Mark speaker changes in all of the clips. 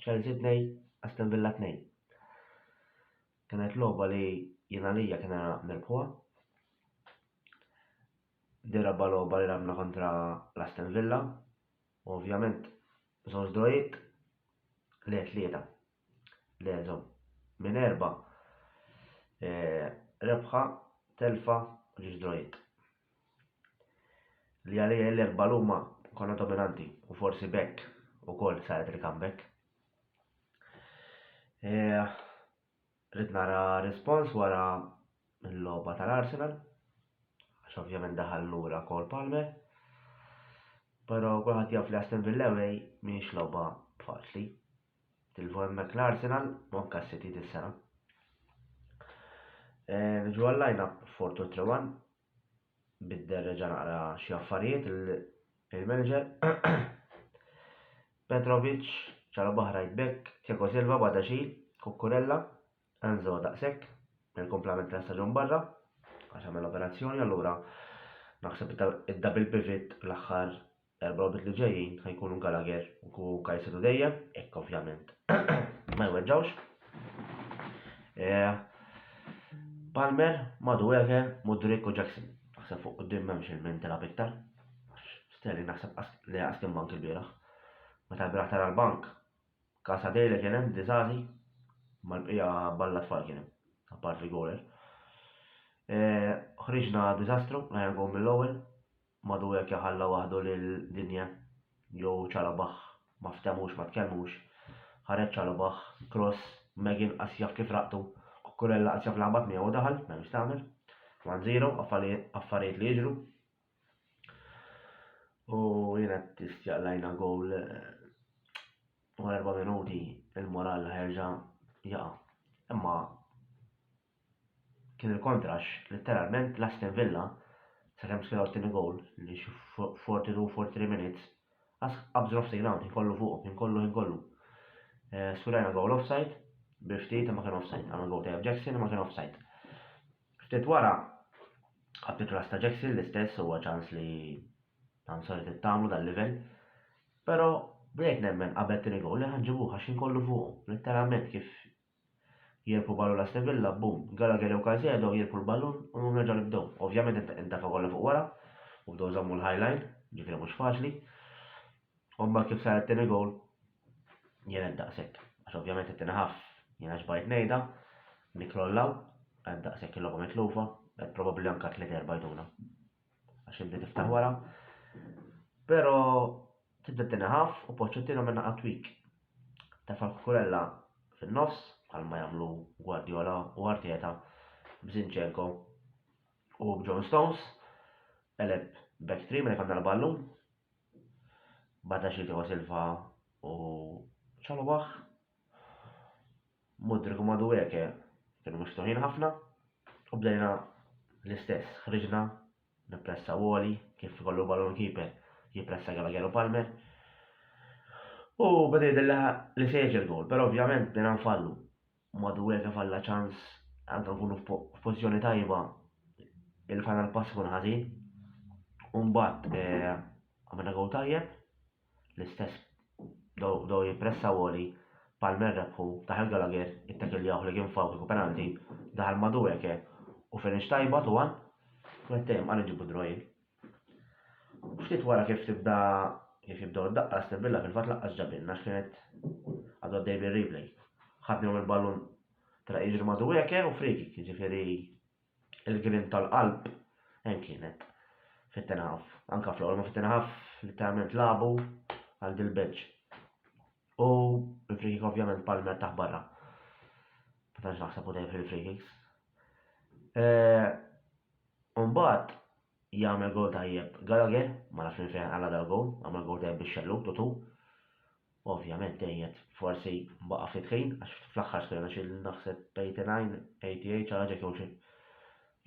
Speaker 1: Chelsea 2, Aston Villa 2. Kienet logħba li jien għalija kien era nirbħuha. Di rabba logħba li rabna kontra l-Aston Villa. U ovvjament żewġ drojiet le tlieta. Le żom. Minn erba' e, rebħa, telfa, ġiex drojiet. li għalija l-erba' luma konna dominanti u forsi b'hekk ukoll saret il-comeback. E, Rrid nara respons wara l-logħba tal-Arsenal, għax ovvjament daħal lura kol Palmer. Però kulħadd jaf li Aston Villa away mhix logħba faċli. Tilfu hemmhekk l-Arsenal u anke s-City dis-sena. Eh, niġu għall-lajna Fortu Trewan bidder reġa' naqra xi affarijiet il-manager. Petrovic, ċara baħra jitbek, Tiago Silva bada xi, Kukurella, Enzo daqshekk, il-komplement ta' staġun barra, għax għamel operazzjoni allura naħseb id-double pivot l-aħħar L-erba' logħbiet li ġejjin ħa jkunu Gallagher u Kajsedu dejjem, jekk ovvjament ma jweġġgħux. Palmer, Madueke, Mudrik u Jackson. Naħseb fuq quddiem m'hemmx il-min tilgħab iktar. Sterling naħseb li qas kien bank il-bieraħ. Meta l-bieraħ tara l-bank, Kasa Dejle kien hemm Dizazi, mal-bqija balla tfal kien hemm, apparti Goler. Ħriġna diżastru, rajna gol mill-ewwel, Madu hekk ja ħalla waħdu lil Dinja jew Chalobah ma ftemux ma tkellmux. Ħareġ Chalobah, cross, Meghin qas jaf kif raqtu, Cucurella qas jaf laħbat miegħu u daħal, m'hemmx x'tagħmel. One zero, affarijiet li jiġru. U jien qed tistjaq lajna gowl wara erba' minuti il-moral ħerġa' jaqa'. Imma kien il-kontra għax letteralment l-Aston Villa sakemm skenaw t-tieni goal li xi 42, 43 minutes qas qabżu nofs il-ground ħin kollu fuqhom, ħin kollu ħin kollu. Eh, skurajna goal offside bil ftit ma kien offside, għamel goal tajjeb Jackson ma kien offside. Ftit wara għabdi klass ta' Jackson l-istess huwa ċans li għam saret it-tamlu dal-level. Pero bdejt nemmen qabel tini gol li ħanġibu ħaxin kollu fuq, letteralment kif Jirbħu ballun Aston Villa, boom. Gallagher jew Caicedo jirbħu l-ballun u nhom jerġgħu nibdew. Ovvjament intefgħu kollha fuq wara u bdew żammu l-high line, ġifieri mhux faċli. U mbagħad kif sar it-tieni goal jien għedt daqshekk. Għax ovvjament it-tieni half jiena xbajt ngħidha, nikkrollaw, għedt daqshekk il-logħba mitlufa, għedt probabbli anke tliet erba' jtuna. għax inti tiftaħ wara, pero tibda t-tieni ħaf u Pochettino minn naqa tweak. Tefa' l-Cucurella fin-nofs bħalma jagħmlu Guardiola u Arteta b'Zinchenko u b'John Stones, qeleb back three minn ikonna l-ballun, b'għada xi Thiago Silva u Chalobah. Mudryk u Madueke kienu miftuħin ħafna u bdejna l-istess, ħriġna nippressaw għoli kif ikollu ballun keeper jippressa Gallagher u Palmer. U beda jidilha li se jiġi l-gowl, però ovvjament bdejna nfallu. Madueke falla ċans anke nkunu f'pożizzjoni tajba il-final pass kun ħażin. U mbagħad eh, għamilna gowl tajjeb. L-istess bdew jippressaw għoli, Palmer rebħu, daħal Gallagher, ittakiljawh li kien fawk kieku penalty, daħal Madueke u finish tajba Tuan mettej imqar inġibu draw jien. Ftit wara kif tibda kif jibdew id-daqqa Aston Villa fil-fatt laqqas ġabilna għax kienet għadu għaddej bir-replay. Ħadnilhom il-ballun telaq jiġri Madueke u free kick, jiġifieri il-grinn tal-qalb hemm kienet fit-ten half. Anka fl-ewwel ma fit-ten half litteralment lagħbu għal dil-bench. U il-free kick ovvjament Palmer taħ barra. Ma tantx naħseb u dejjem fil-free kicks. Umbagħad Jagħmel gowl tajjeb Gallagher, ma nafx minn fejn qala' dal-gowl, għamel gowl tajjeb bix-xellug, Tutu ovvjament tgħejjed forsi baqa' ftit ħin għax fl-aħħar skorna xi naħseb 89, 88 xi ħaġa hekk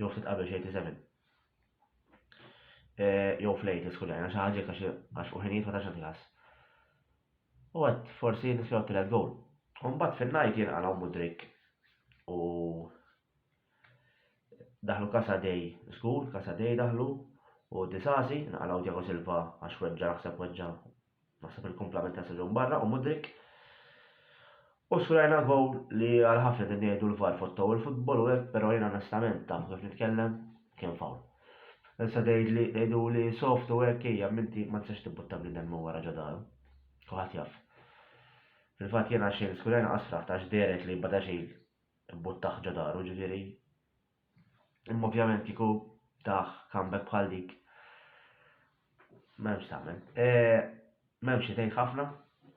Speaker 1: jew ftit qabel xi 87. Jew fl-80 skurjajna xi ħaġa hekk għax fuq ħinijiet ma tax nagħti ħass. U għad forsi nispjaw tielet gowl. U mbagħad fin-ngħid jien qala' Mudrik u Daħlu Casa Dei żgur, Casa Dei daħlu u Disasi nqalgħu Tiago Silva għax weġġa' naħseb weġġa' naħseb il-kumplament ta' staġun barra u Mudryk. U skurajna gowl li għal ħafna din ngħidu l-VAR fottow il-futbol u hekk però jien onestament tafu kif nitkellem kien fowl. Issa tgħidli tgħiduli soft u hekk hija m'inti ma tistax tibbutta bniedem minn wara ġo daru. Kulħadd jaf. Fil-fatt jiena xejn skurajna qasra għax dehret li Badaxil Imbuttaħ ġo daru, ġifieri. Imma ovvjament kieku tah comeback bħal dik m'hemmx x'tagħmel. M'hemmx xi tgħid ħafna,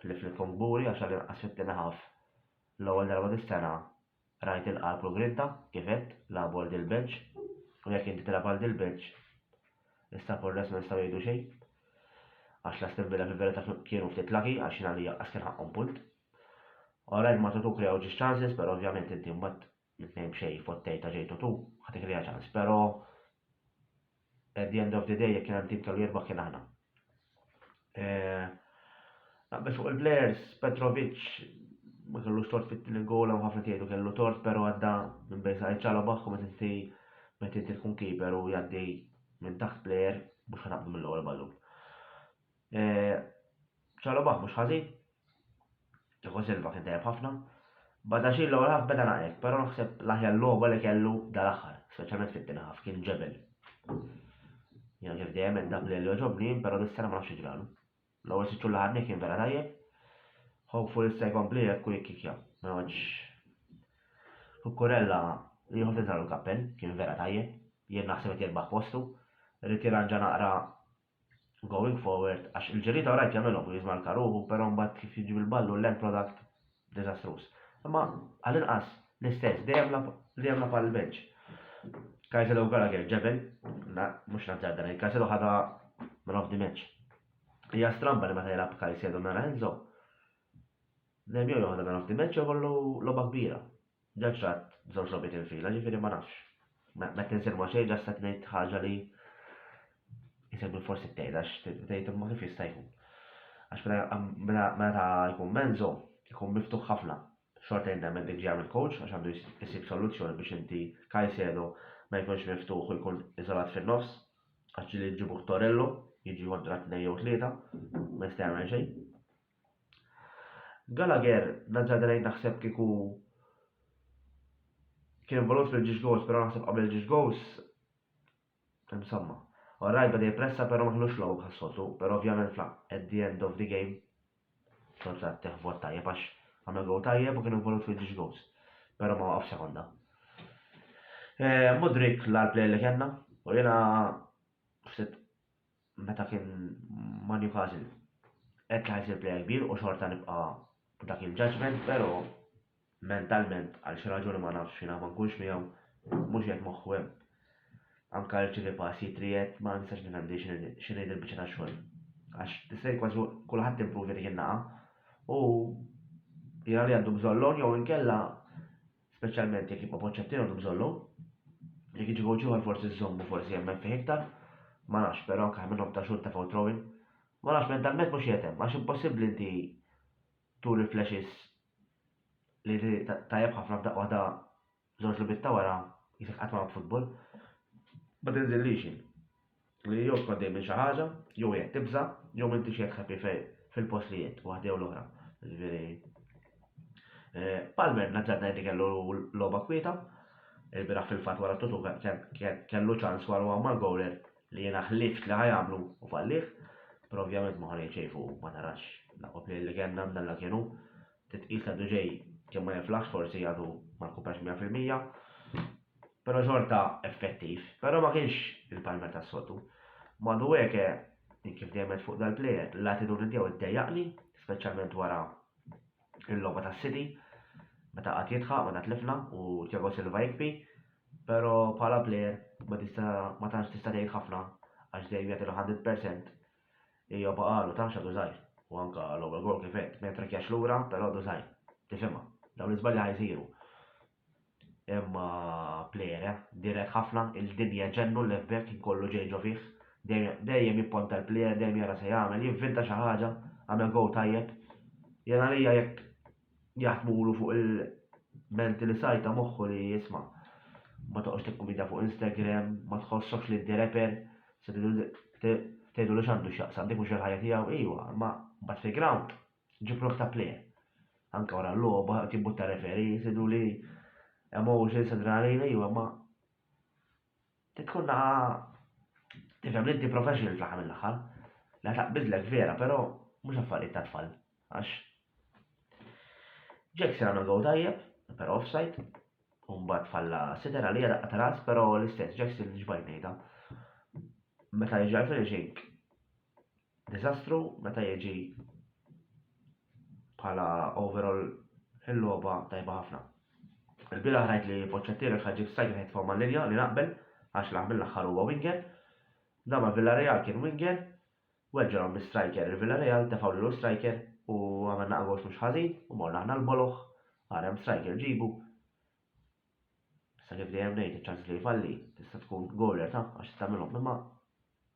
Speaker 1: ħlief li nkun kburi għax għall-inqas fit-tieni half l-ewwel darba dis-sena rajt il-qalb u l-grinta, kif għedt, lagħbu għal Dilbenċ u jekk inti tilgħab għal Dilbenċ issa fuq ir-rest ma nistgħu ngħidu xejn għax l-Aston Villa fil-verità kienu ftit lucky għax jien għalija qas kien ħaqqhom punt. Alright ma tutuk li għawġiex chances pero ovvjament inti mbagħad mitnejn b'xejn fottej ta' ġejtu tu ħatik li ċans pero at the end of the day jekk kien hemm tim kellu jirbaħ kien aħna. Eh, Naqbel fuq il-players, Petrovic ma kellux tort fit-tieni goal hemm ħafna tgħidu kellu tort pero għadda minn bejn sa' ċala baħħu meta inti meta inti tkun keeper u jgħaddi minn taħt player mhux ħanabdu mill-ewwel ballun. Chalobah mhux ħażin. Thiago Silva kien tajjeb ħafna. Badaxxir l-ewwel ħaf beda naqrek, però naħseb l-aħjar logħba li kellu dal-aħħar, speċjalment fit-tieni ħaf, kien ġebel. Jiena kif dejjem għedt dak li jogħġobni jien, però dis-sena ma nafx ġralu. L-ewwel sitt xhur li ħadni kien vera tajjeb. Hopeful issa jkompli hekk u jikkikja. Ma għadx. Kukurella li ħof tinsalu l-kappell, kien vera tajjeb. Jien naħseb qed jirbaħ postu. Rrid jirranġa naqra going forward għax il-ġirrieta rajt jagħmilhom u jiżmalka ruħu però mbagħad kif jiġi bil-ballu l-end product diżastruż. Imma għall-inqas l-istess li jagħmla li jagħmla bħal bench. Caicedo u Gallagher ġebel, na, mhux nazzar dan, Caicedo ħadha man of the match. Hija stramba li meta jilgħab Caicedo nara Enzo. Dejjem jew joħodha man of the match jew kollu logħba kbira. Ġa ċatt żewġ logħbiet infila, ġifieri ma nafx. Ma qed insir ma' xejn, ġast qed ngħid ħaġa li isegwi forsi t-tgħid għax tgħid imma kif jista' jkun. Għax meta meta jkun Menzo jkun miftuħ ħafna. Xorta jien nemmen dik ġejja mill-coach għax għandu jsib soluzzjoni biex inti Caicedo ma jkunx miftuħ u jkun iżolat fin-nofs għax ġieli jġibuh Torello jiġi kontra tnejn jew tlieta ma jista' jagħmel xejn. Gallagher, naġġa għdejt naħseb kieku kien involut fil-ġiex gowls pero naħseb qabel il-ġiex gowls imsamma. Alright beda jippressa pero ma kellux logħob bħas-soltu, pero ovvjament fl at the end of the game xorta tteħ vot tajjeb għax għamel gowl tajjeb u kien involut fil-ġiex gowls. Pero ma waqaf sekonda. Eh, Mudrik l-għal player li kellna u jiena ftit meta kien ma' Newcastle għedt li ħa jsir player kbir u xorta nibqa' b'dak il-judgement pero' mentalment għal xi raġuni ma nafx jiena ma nkunx miegħu mhux qiegħed moħħu hemm. Anka jirċievi pass jitriegħed ma nistax nifhem din x'inhi dil-biċċa ta' xogħol. Għax tista' jien kważi kulħadd impruvja dik in-naqa' u jara li għandu bżonn loan jew inkella speċjalment jekk jibqa' Pochettino għandu bżonn lum. Jekk jiġi coach ieħor forsi żżommu forsi jemmen fih iktar. Ma nafx, però anke minnhom ta' xhur tefgħu throwing. Ma nafx mentalment mhux qiegħed hemm, għax impossibbli inti turi flashes li tajjeb ħafna f'daqqa waħda żewġ logħbiet ta' wara jisek qatt ma lagħbt football. Ma tinżillix jien. Li jew tkun għaddej minn xi ħaġa, jew qiegħed tibża', jew m'intix qiegħed happy fej fil-post li qiegħed, waħda jew l-oħra. Jiġifieri eh, Palmer nazzard ngħid li kellu logħba kwieta. Il-bieraħ fil-fatt wara t-tutu kellu ċans wara huwa mal-gowler li jiena ħlift li ħajamlu u fallih. Però ovvjament ma ħanej xejn fuq ma tarax laqgħu li kellna mdalla kienu Titqis li għadu ġej kemm ma jinflaħx forsi għadu ma rkuprax mija fil-mija, però xorta effettiv, però ma kienx il-Palmer tas-soltu. M'għadu hekk, jien kif dejjem għedt fuq dal-plejer, l-attitudni tiegħu ddejjaqni, speċjalment wara l-logħba tas-City, meta qagħad jidħaq, meta tlifna u Thiago Silva jikbi, però bħala plejer ma tantx tista' tgħid ħafna għax dejjem jagħti l-hundred percent Hija baqgħalu taf x'għadu żgħir. U anke l-ewwel goal kif għedt, ma jittrakkjax lura, però għadu żgħir. Tifhimha. Dawn l-iżbalji ħa jsiru. Imma plejer, eh? Dirett ħafna, il-dinja ġennu l-left back kien kollu ġej ġo fih. Dejjem jipponta l-plejer, dejjem jara se jagħmel, jivvinta xi ħaġa, għamel goal tajjeb. Jien għalija jekk jaħdmulu fuq il-menti li sajta moħħu li isma' ma toqgħodx tikkumintja fuq Instagram, ma tħossokx li inti rapper, se tgħidulu x'għandu x'jaqsam, dik mhux il-ħajja tiegħu, ejwa, imma mbagħad fil-ground ġib ruħek ta' player. Anke wara l-logħba qed jibbutta referee, tgħiduli emotions, adrenalina, ejwa, imma Trid tkun naħa tifhem li inti professional fl-aħħar mill-aħħar, li ħa taqbidlek vera, però mhux affarijiet ta' tfal, għax Jackson għamel gowl tajjeb, però offside, u mbagħad falla sitter għalija daqqa ta' ras, però l-istess Jackson xbajt ngħidha. Meta jiġi għal finishing Diżastru meta jiġi bħala overall il-logħba tajba ħafna. Il-bieraħ rajt li Poċċettieri u l-Ħaġġib Strajk qed jitfgħu mal-linja li naqbel għax l-aħ mill-aħħar huwa winger. Dan ma' Villarreal kien winger u hekk ġralhom bi striker. Il-Villarreal tefgħu lilu l-striker u għamilna agos mhux ħażin u morna aħna l-boloh għar hemm striker ġibu. Issa kif dejjem ngħid iċ-ċans li jfalli tista' tkun goaler ta' għax tista' tagħmilhom imma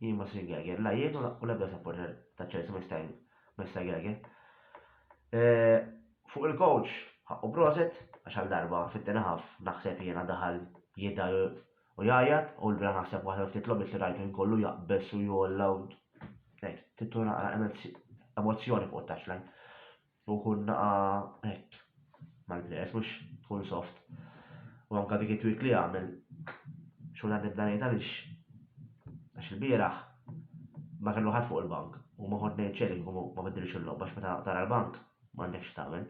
Speaker 1: Jien ma Sir Geiger. La jien u l-ebda supporter ta' Chelsea ma jista' ma jista' Geiger. Eh, fuq il-coach, ħaqqu proset, għax għal darba fit-tieni half naħseb jiena daħal jidgħi u jgħajjat, u l-bira naħseb waħda mill-ftit logħbiet li rajtu jien kollu jaqbeż u jgħolla u hekk, tittu naqra emozzjoni fuq it-touchline. U kun naqa' hekk mal-plejers mhux tkun soft. U anke dik it-tweak li għamel xogħol għandi nibda ngħid għaliex għax ilbieraħ ma kellu ħadd fuq il-bank u ma kont ngħid xejn li kieku ma biddilx il-logħba għax meta tara l-bank m'għandekx x'tagħmel.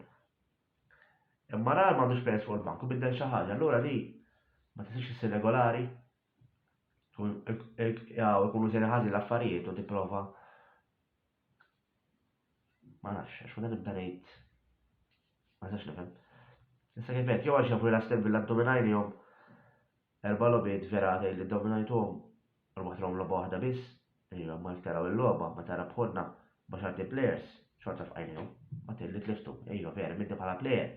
Speaker 1: Imma ra li m'għandux plejers fuq il-bank u biddel xi ħaġa allura li ma tistax issir regolari u ikunu sejrin ħażin l-affarijiet u tipprova Ma nafx, għax meta nibda ngħid ma nistax nifhem. Issa kif qed jew għax jafu li l-Aston Villa ddominajnihom erba' logħbiet vera tgħid li ddominajtuhom u rbaħthilhom logħba waħda biss, ejja ma jekk taraw il-logħba meta rebħulna b'għaxar team players xorta fqajnihom, ma tgħid li tliftu, ejja vera minti bħala player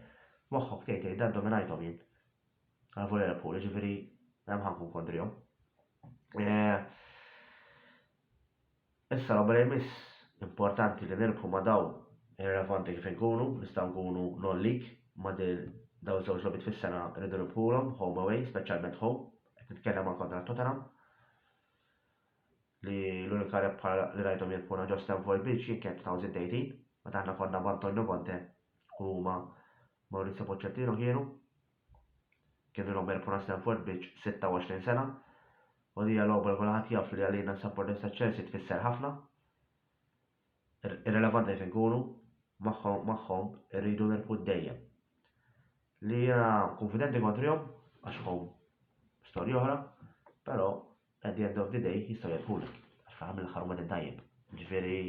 Speaker 1: moħħok tgħid tgħid dan dominajthom jien. Għalfu li rebħu, jiġifieri hemm ħankun kontrihom. Eh, Issa qabel imiss, importanti li nirbħu ma' dawn irrelevanti kif inkunu, nistgħu nkunu non league ma' din dawn iż-żewġ logħbiet fis-sena rridu nirbħulhom home away, speċjalment home, qed nitkellem anke kontra Tottenham li l-unika rebħa li rajthom jirbħuna ġo Stamford Bridge jien kienet 2018 meta aħna konna b'Antonio Conte u huma Maurizio Pochettino kienu Kien il-logħob erb wara Stamford Bridge 26 sena u din hija logħoba li kulħadd jaf li għalina s-supporters ta' Chelsea tfisser ħafna. Irrelevanti fejn inkunu, magħhom magħhom irridu nirbħu dejjem. Li jiena kunfidenti kontrihom għax home storja oħra, però At the end of the day jistgħu jebħulek, għax fl-aħħar mill-aħħar huma tiddajjeb. Ġifieri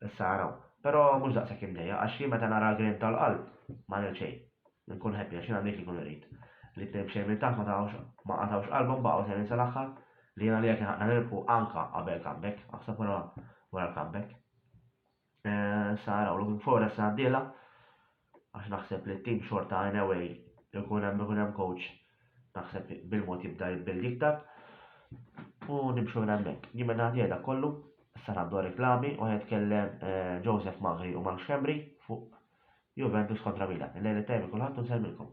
Speaker 1: issa araw. Però mhux daqshekk imdejjaq għax jien meta nara l-grinn tal-qalb ma ngħid xejn. Inkun happy għax jien għandi dik li nkun irrid. Li t-tnejn b'xejn minn taħt ma qatgħux qalbhom baqgħu sejrin sal-aħħar, li jien għalija kien ħaqqna nirbħu anke qabel comeback, aħseb wara l-comeback. Eh, sa narawlu minn fora s għandila għax naħseb li t-tim xorta anyway ikun hemm ikun hemm coach naħseb bil-mod jibda jibbildi iktar u nimxu minn hemmhekk. Jien minn għandi għedha kollu, issa għandu reklami u jitkellem eh, Joseph Magri u Mark Xembri fuq Juventus kontra Milan. Il-lejli tajbi kulħadd u nselmilkom.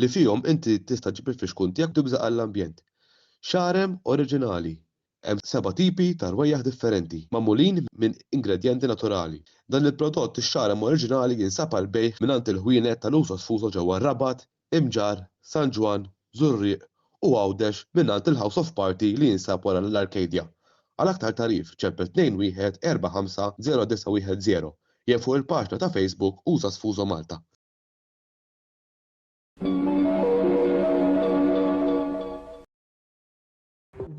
Speaker 2: li fihom inti tista' ġġib il-fixkun tiegħek tibża' għall-ambjent. Xarem oriġinali, Hemm seba' tipi ta' rwejjaħ differenti, magħmulin minn ingredjenti naturali. Dan il-prodott ix-xarem oriġinali jinsab għall-bejgħ mingħand il-ħwienet tal-uso sfuso ġewwa r-Rabat, Imġarr, San Ġwann, Żurrieq u Għawdex mingħand il-House of Party li jinsab wara l-Arcadia. Għal aktar tagħrif ċempel 2145091 jew fuq il-paġna ta' Facebook Usa Sfuso Malta.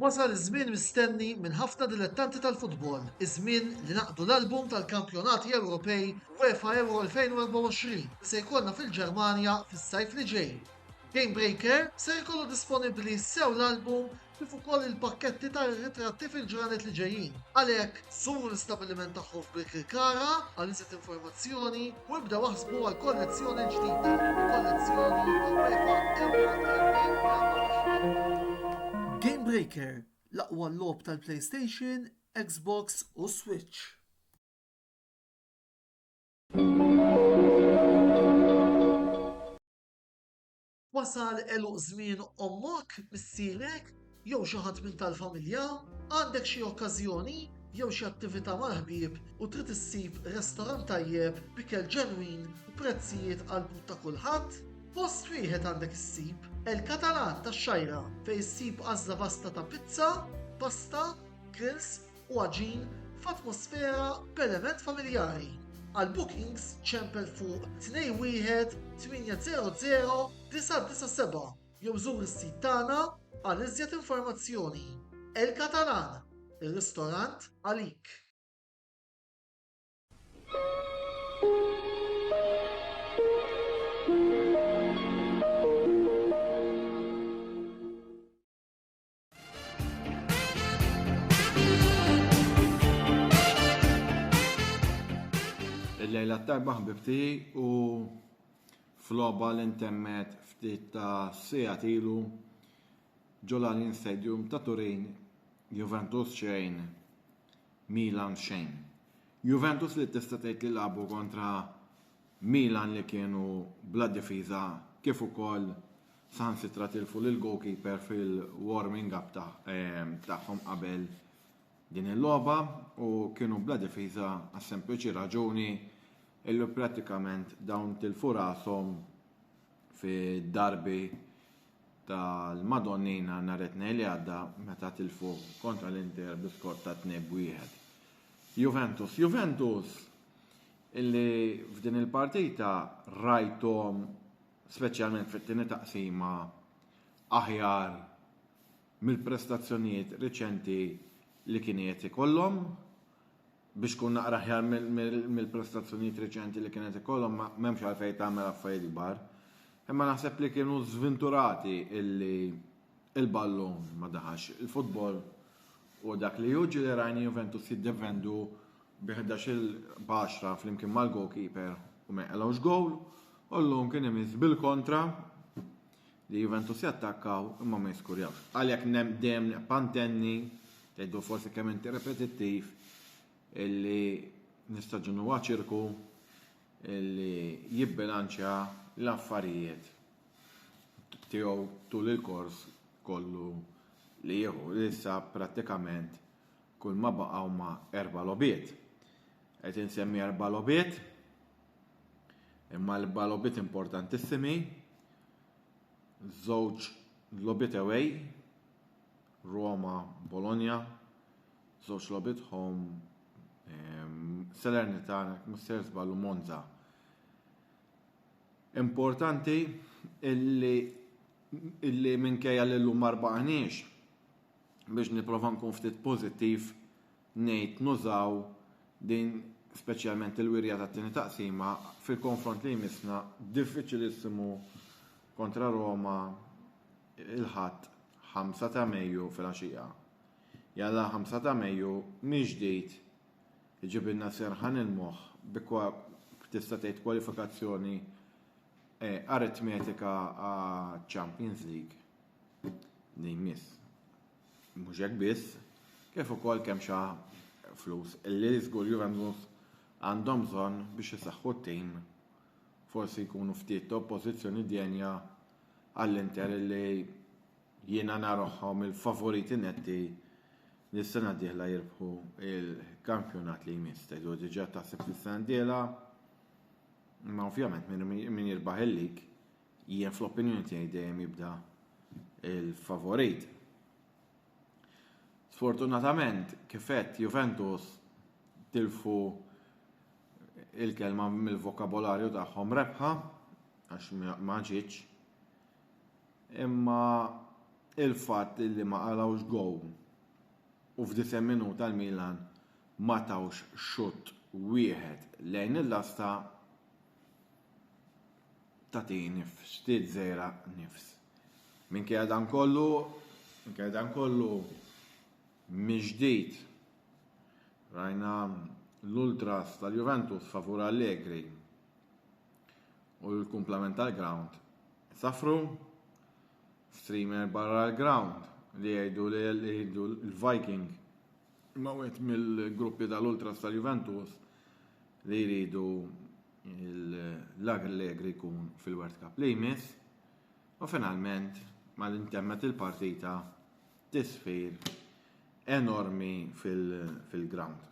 Speaker 3: Wasal iż-żmien mistenni minn ħafna dilettanti tal-futbol, iż-żmien li naqdu l-album tal-Kampjonati Ewropej UEFA Euro 2024 li se jkollna fil-Ġermanja fis-sajf li ġej. Game Breaker ser ikollu disponibbli sew l-album kif ukoll il-pakketti tar-ritratti fil-ġranet li ġejjin. Għalhekk, żuru l-istabbiliment tagħhom f'Birkirkara għal iżjed informazzjoni u ibdew aħsbu għall-kollezzjoni l-ġdida, kollezzjoni tal-UEFA Euro 2024. Game Breaker, l-aqwa logħob tal-PlayStation, Xbox u Switch. Wasal għeluq żmien ommok, missierek, jew xi ħadd minn tal-familja? Għandek xi okkażjoni jew xi attività mal-ħbieb u trid issib restorant tajjeb b'ikel ġenwin u prezzijiet għall-but ta' kulħadd? Post wieħed għandek issib, El Catalan tax-Xgħajra, fejn issib għażla vasta ta' pizza, pasta, grills, u għaġin f'atmosfera b'element familjari. Għal bookings ċempel fuq 21 800 997 jew żur is-sit tagħna għal iżjed informazzjoni. El Catalan, ir-ristorant għalik.
Speaker 4: Il-lejla t-tarba ħbibti u floba li ntemmet ftit ta' sija tilu ġolalin Stadium ta' Turin Juventus xejn Milan xejn. Juventus li tista' tgħid li labu kontra Milan li kienu bla difiża kif ukoll saħansitra tilfu lill-goalkeeper fil-warming up tagħhom qabel din il-logħba u kienu bla difiża għas-sempliċi raġuni illi prattikament dawn tilfu rashom fid-darbi tal-Madonnina nhar it-tnejn li għadda meta tilfu kontra l-Inter bi skor ta' 2-1. Juventus, Juventus illi f'din il-partita rajthom speċjalment fit-tieni taqsima, aħjar mill-prestazzjonijiet riċenti li kien qiegħed ikollhom, biex tkun naqra aħjar mill-prestazzjonijiet riċenti li kien qed ikollhom m'hemmx għalfejn tagħmel affarijiet kbar. Imma naħseb li kienu żvinturati illi il-ballun ma daħax. Il-futbol u dak li juġi li rajni Juventus jiddefendu bi ħdax-il b'għaxra flimkien mal-goalkeeper u ma jqalgħux gowl, u llum kien imiss bil-kontra li Juventus jattakkaw imma ma jiskurjawx. Għalhekk nem dejjem neqpa' ntenni, tgħidu forsi kemm inti repetittiv, illi nistaġun huwa ċirku illi jibbilanċja l-affarijiet tiegħu tul il-kors kollu li jieħu, li issa prattikament Kulma baqa' huma erba' logħbiet. Qed insemmi erba' logħbiet, imma erba' logħbiet importantissimi, żewġ logħbiet away, Roma, Bologna, żewġ logħbiet home, ehm, Salernitana, mhux ser żballu Monza. Importanti illi illi minkejja li llum ma rbaqniex, biex nipprova nkun ftit pożittiv ngħid nużaw din speċjalment il-wirja tat-tieni taqsima fil-konfront li jmissna diffiċilissimu kontra Roma il-Ħadd 5 ta' Mejju filgħaxija. Jalla 5 ta' Mejju mill-ġdid iġibilna serħan il-moħħ bi tista' tgħid kwalifikazzjoni eh, aritmetika għaċ-Champions League. li jmiss. Mhux hekk biss, kif ukoll kemm xa flus li żgur Juventus għandhom bżonn biex isaħħu t-tim. Forsi jkunu ftit oppożizzjoni djenja għall-Inter li jiena naroħħom il-favoriti netti li s-sena d-dieħla jirbħu il-kampjonat li jmiss. Tgħidu diġà taħseb fis-sena d-dieħla, ma ovvjament min jirbaħ il-lig Jien fl-opinjoni tiegħi dejjem jibda il-favorit. Sfortunatament, kifet Juventus tilfu il-kelma mill-vokabolarju tagħhom rebħa għax ma ġietx. Imma il-fatt li ma qalawx gow u f'disa' minuta l-Milan ma tawx xutt wieħed lejn il-lasta tagħti nifs, xtiet żejra nifs. Minkejja dan kollu, minkejja dan kollu miġdid rajna l-ultras tal-Juventus favur Allegri u l-kumplament tal-ground safru streamer barra l-ground li jgħidu li jgħidu l-Viking ma wet mill-gruppi tal-ultras tal-Juventus li jridu l-Allegri jkun fil-World Cup li jmiss u finalment ma l-intemmet il-partita tisfir enormi fil-ground.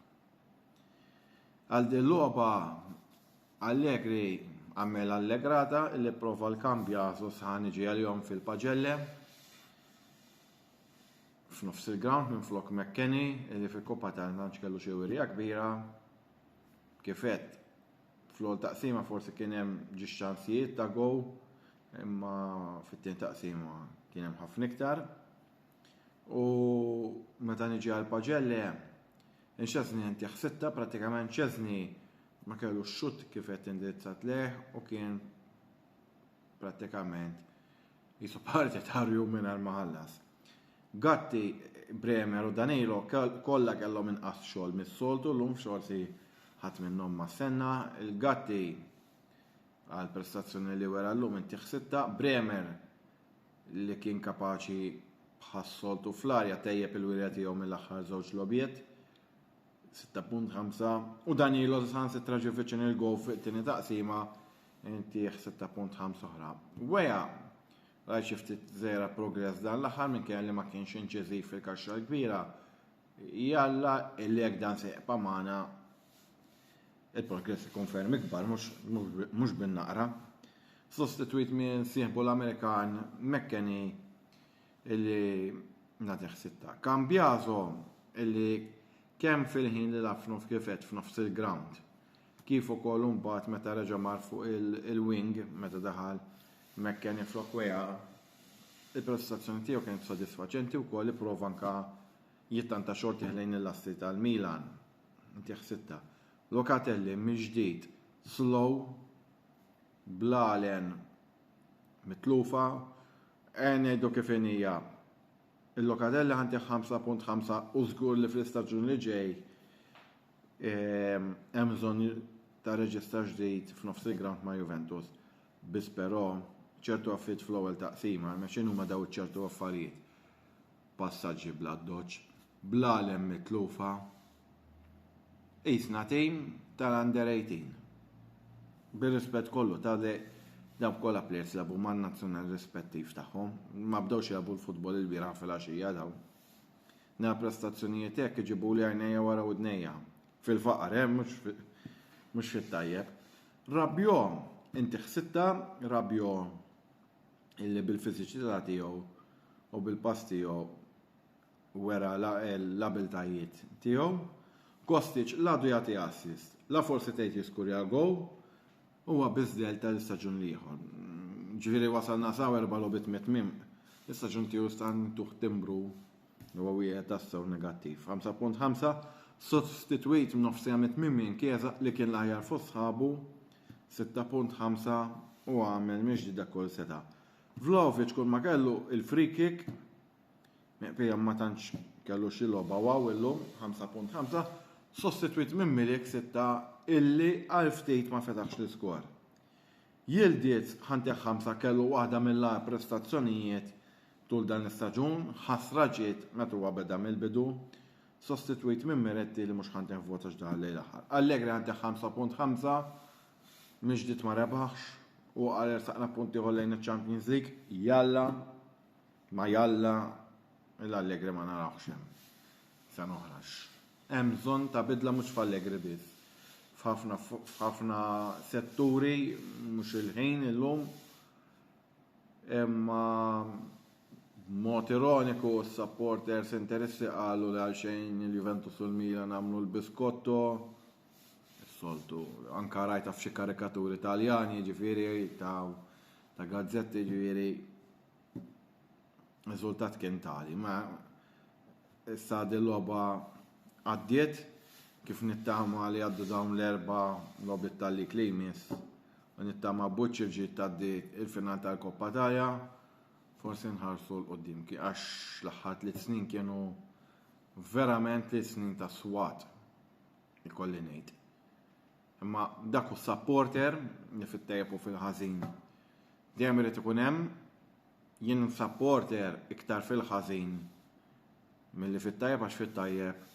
Speaker 4: Għal din loba Allegri għamel allegrata li prova l-kambja sosħan iġi għal-jom fil-pagelle f'nofs il-ground minn flok McKenny li fil-Koppa tal-Manċ kellu xewirija kbira kif għedt, fl-ewwel taqsima forsi kien hemm ġiex ċansijiet ta' gow, imma fit-tieni taqsima kien hemm ħafna iktar. U meta niġi għal Paġelle, inxeżni inti ħsitta pratikament ċeżni ma kellu xut kif qed indirizzat leh u kien pratikament Qisu parti ta' rjum mingħajr ma ħallas. Gatti, Bremer u Danilo kollha kellhom inqas xogħol mis-soltu llum f'xorsi ħadd minnhom ma stenna il Gatti għal prestazzjoni li wera llum intih sitta, Bremer li kien kapaċi bħas-soltu fl-arja tejjeb il-wirja tiegħu mill-aħħar żewġ logħbiet. 6.5 u Danilo san sitra ġi viċin il-gow fuq it-tieni taqsima intih 6.5 oħra. Weja, rajt xi ftit żera progress dan l-aħħar minn kelli ma kienx inċiżiv fil-kaxxa l-kbira. Jalla illi jekk dan se jibqa' magħna il-progress ikun ferm ikbar mhux bin-naqra. Sostitwit minn sieħbu l-Amerikan McKenny illi nagħtih sitta. Cambiaso illi kemm fil-ħin li laf nofs kifet f'nofs il-ground kif ukoll imbagħad meta reġa' mar fuq il-wing meta daħal McKennie flok Weah il-prestazzjoni tiegħu kienet sodisfaċenti wkoll ipprova anke jittanta xorti ħlejn il-lasti tal-Milan. Ntih sitta. Locatelli mill-ġdid slow bl-għalen mitlufa, eh ngħidu kif inija, il-Locatelli ħa ntih 5.5 u żgur li fl-istaġun li ġej ehm, hemm bżonn ta' reġistar ġdid f'nofs il-ground ma' Juventus. Biss però ċertu affit fl-ewwel taqsima, imma x'inhuma daw ċertu affarijiet? passaġġi bl-addoċċ, bl-għalem mitlufa, qisna tim tal-under 18. Bir-rispett kollu ta' dawk kollha plejers lagħbu man-nazzjonal rispettiv tagħhom, ma bdewx jilagħbu l-futbol ilbieraħ filgħaxija dawn. Nara prestazzjonijiet hekk iġibuli għajnejja wara widnejja. Fil-faqar, eh, mhux mhux fit-tajjeb. Rabiot, inti ħsibtha Rabiot illi bil-fiżiċità tiegħu u bil-pass tiegħu wera l-abiltajiet tiegħu. Kostic l-għadu jagħti assist, la forsi tgħid jiskurja gow, huwa biss delta l-istaġun l-ieħor. Ġifieri wasalna saw erba' logħbiet mit-tmiem. L-istaġun tiegħu stan tuħ timbru huwa wieħed tassew negattiv. 5.5 Sostitwit minn nofsija mit-tmiem minn Kieza li kien l-aħjar fost sħabu 6.5 u għamel minn ġdida kull seta. Vlahovic kull ma kellu il-free kick miqpija ma tantx kellu xi logħba waw illum 5.5 sostitwit minn Milik 6 illi għal ftit ma fetaħx l-iskor. Jildiet ħanteħ 5 kellu waħda mill-agħar prestazzjonijiet tul dan l-istaġun, ħasra ġiet meta huwa beda mill-bidu, Sostitwit minn Miretti li mhux ħa nteħ vot għax daħal lejn l-aħħar. Allegri ħa nteħ 5.5 Mill-ġdid ma rebħx u qal ersaqna punt ieħor lejn iċ-Champions League. Jalla ma jalla lil Allegri ma narawhx hemm sena oħra għax hemm bżonn ta' bidla mhux f'Allegri biss. F'ħafna f'ħafna setturi mhux il-ħin illum. Imma b'mod ironiku s-supporters Interissi qalu li għalxejn il-Juventus u l-Milan għamlu l-biskotto, is-soltu, anke rajtha f'xi karikaturi Taljani jiġifieri ta' ta' gazzetti jiġifieri riżultat kien tali. Ma Issa din logħba għaddiet, kif nittama li jgħaddu dawn l-erba' logħbiet tal-lig li jmiss u nittama Buċċirġiet tgħaddi l-final tal-Koppa tagħha, forsi nħarsu 'l quddiem għax l-aħħar tliet snin kienu verament tliet snin ta' swat, ikolli ngħid. Imma dak hu supporter li fit-tajjeb u fil-ħażin dejjem irid ikun hemm jien supporter iktar fil-ħażin milli fit-tajjeb għax fit-tajjeb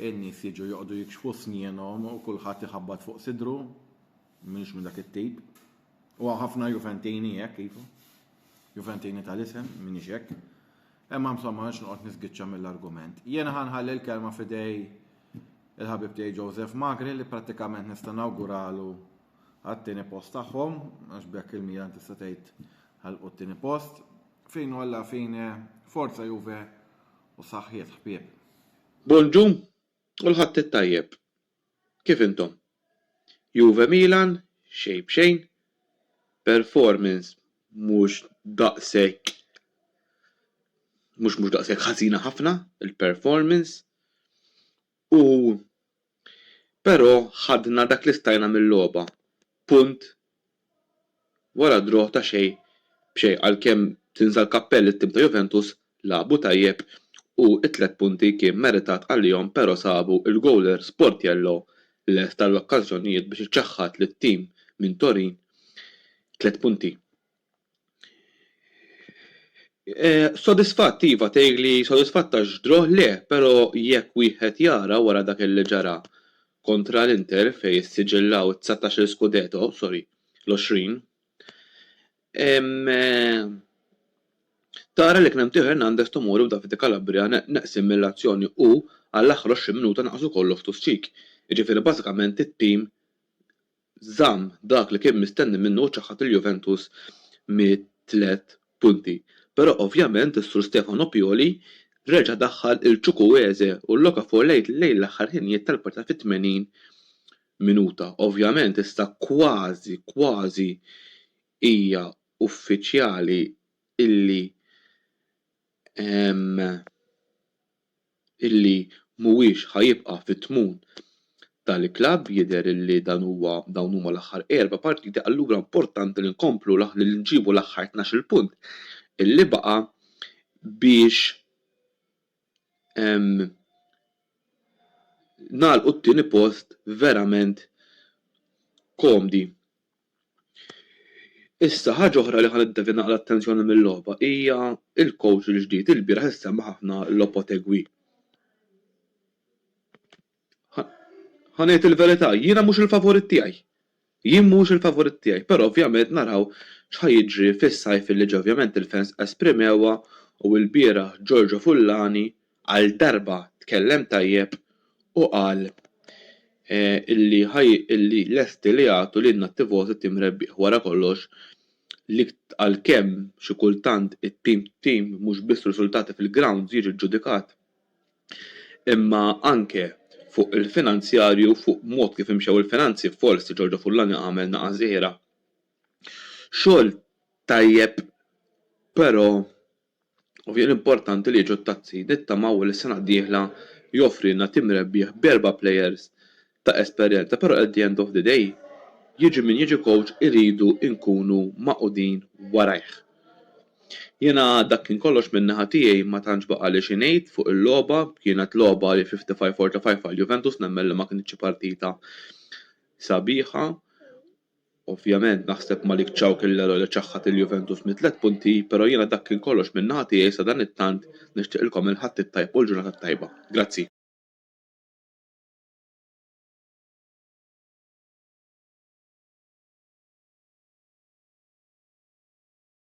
Speaker 4: in-nies jiġu joqogħdu jikxfu snjenhom u kulħadd iħabbat fuq sidru. M'iniex minn dak it-tip. U hawn ħafna Juventini hekk iva. Juventini tal-isem, m'iniex hekk. Imma insomma nix noqgħod nisgiċċa mill-argument. Jiena ħanħalli l-kelma fidej il-ħabib tiegħi Joseph Magri li prattikament nista' nawguralu għat-tieni post tagħhom għax bekk il-Milan tista' tgħid Ħalqu t-tieni post, fine u alla fine, forza Juve u saħħiet ħbieb. Bonġu
Speaker 2: u l-Ħadd it-tajjeb. Kif intom? Juve Milan xejn b'xejn, performance mhux daqshekk mhux mhux daqshekk ħażina ħafna il-performance. U però ħadna dak li stajna mil-logħba, punt wara draw ta' xejn b'xejn għalkemm tinża' l-kappell lit-tim ta' Juventus, lagħbu tajjeb u t-tliet punti kien meritat għalihom però sabu l-gowler Sportiello lest għall-okkażjonijiet biex iċaħħad lit-tim minn Torin tliet punti. Sodisfatt, iva, tgħid li sodisfatt għax draw le, però jekk wieħed jara wara dak li ġara kontra l-Inter fejn issiġillaw it-dsatax-il Scudetto, sorry, l-għoxrin, tara li kien hemm Theo Hernandez, Tomori u Davide Calabria neqsin mill-azzjoni u għall-aħħar 20 minuta naqas ukoll Loftus-Cheek, jiġifieri bażikament it-tim żamm dak li kien mistenni minnu u ċaħħad lil Juventus mit-tliet punti. Però ovvjament is-Sur Stefano Pioli reġa' daħħal lil Chukwueze u l-Okafor lejn lejn l-aħħar ħinijiet tal-partita fit-80 minuta. Ovvjament issa kważi kważi hija uffiċjali illi hemm illi mhuwiex ħa jibqa' fit-tmun tal-klabb, jidher illi dan huwa dawn huma l-aħħar erba' partiti allura importanti li nkomplu li nġibu l-aħħar tnax-il punt illi baqa' biex nagħlqu t-tieni post verament komdi. Issa, ħaġa oħra li ħa niddevja naqra l-attenzjoni mil-logħba hija l-kowċ il-ġdid. Ilbieraħ issemma ħafna Lopotegui. Ħa ħa ngħid il-verità, jiena mhux il-favorit tiegħi. Jien mhuwiex il-favorit tiegħi, però ovvjament naraw x'ħa jiġri fis-sajf li ġej. Ovvjament il-fans esprimewha u ilbieraħ Giorgio Fullani għal darba tkellem tajjeb u qal illi illi lesti li jagħtu lilna t-tifożi tim rebbieħ wara kollox li għalkemm xi kultant it-tim tim mhux biss riżultati fil-grounds jiġi ġġudikat imma anke fuq il-finanzjarju fuq mod kif imxew il-finanzi forsi Giorgio Fullani għamel naqa' żgħira xogħol tajjeb però u jien importanti li jiġu t-Tazzi, nittamaw li s-sena d-dieħla joffrilna tim rebbieħ b'erba' plejers ta' esperjenza però at the end of the day jiġi min jiġi kowċ irridu nkunu magħqudin warajh. Jiena dak kien kollox minn naħa tiegħi ma tantx baqgħali xi ngħid fuq il-logħba, kienet logħba li 55-45 għal Juventus nemmen li ma kinitx xi partita sabiħa. Ovvjament naħseb Malik Thiaw kien l-ero li ċaħħad lil Juventus mit-tliet punti pero jiena dak kien kollox minn naħa tiegħi sadanittant nixtieqilkom il-Ħadd it-tajb u l-ġurnata t-tajba. Grazzi.